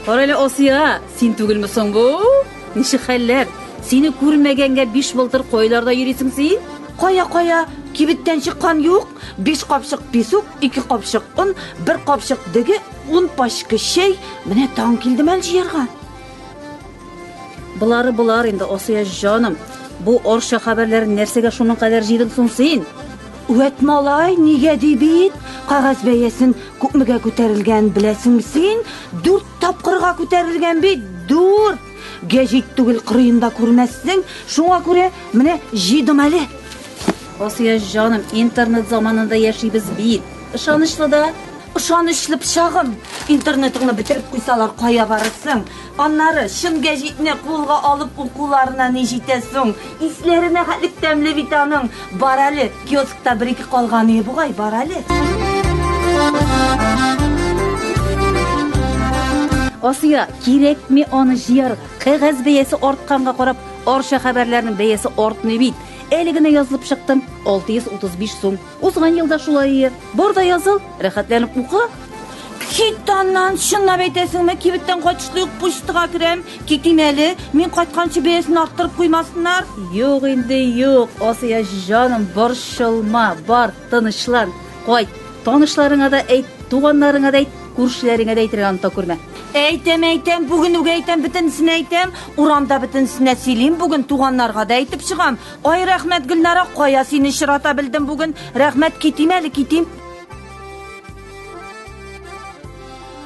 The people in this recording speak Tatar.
Карале Асия, син түгелме соң бу? Ничек хәлләр? Сине күрмәгәнгә биш былтыр кайларда йөрисең син? Кая-кая, кибеттән чыккан юк. Биш капчык песок, ике капчык он, бер капчык деге, ун пачка чәй, менә таң килде мәл җыярга. Болары болар инде, Асия җаным. Бу орча хәбәрләрен нәрсәгә шуның кадәр җыйдың соң син? Үәт малай, нигә ди бит, кагаз бәясен күпмегә күтәрелгән беләсең син? Дүрт тапкырга күтәрелгән бит, дүрт! Гәҗит түгел кырыенда күрмәссең, шуңа күрә менә җыйдым әле. Асия җаным, интернет заманында яшибез бит. Ышанычлы да. Ышанычлы пычагым! Интернетыңны бетереп куйсалар, кая барырсың? Аннары, чын гәҗитне кулга алып укуларына ни җитә соң? Исләренә хәтлек тәмле бит аның. Бар әле, киоскта бер-ике калганы бугай, бар әле. Асия, кирәкми аны җыярга. Кәгазь бәясе артканга карап, Арча хәбәрләренең бәясе артмый бит. Әле генә язылып чыктым. 635 сум. Узган елда шулай ие. Бар да языл, рәхәтләнеп укы. Хитаннан чынлап әйтәсеңме, кибеттән кайтышлый ук почтага керәм. Китим әле, мин кайтканчы бәясен арттырып куймасыннар. Юк инде, юк, Асия җаным, борчылма, бар. Тынычлан, кайт. Танышларыңа да әйт, туганнарыңа да әйт, күршеләреңә дә әйтергә оныта күрмә. Әйтәм, әйтәм, бүген үк әйтәм, бөтенесенә әйтәм. Урамда бөтенесенә сөйлим, бүген туганнарга да әйтеп чыгам. Ай, рәхмәт, Гөлнара, кая сине очрата белдем бүген. Рәхмәт, китим әле, китим.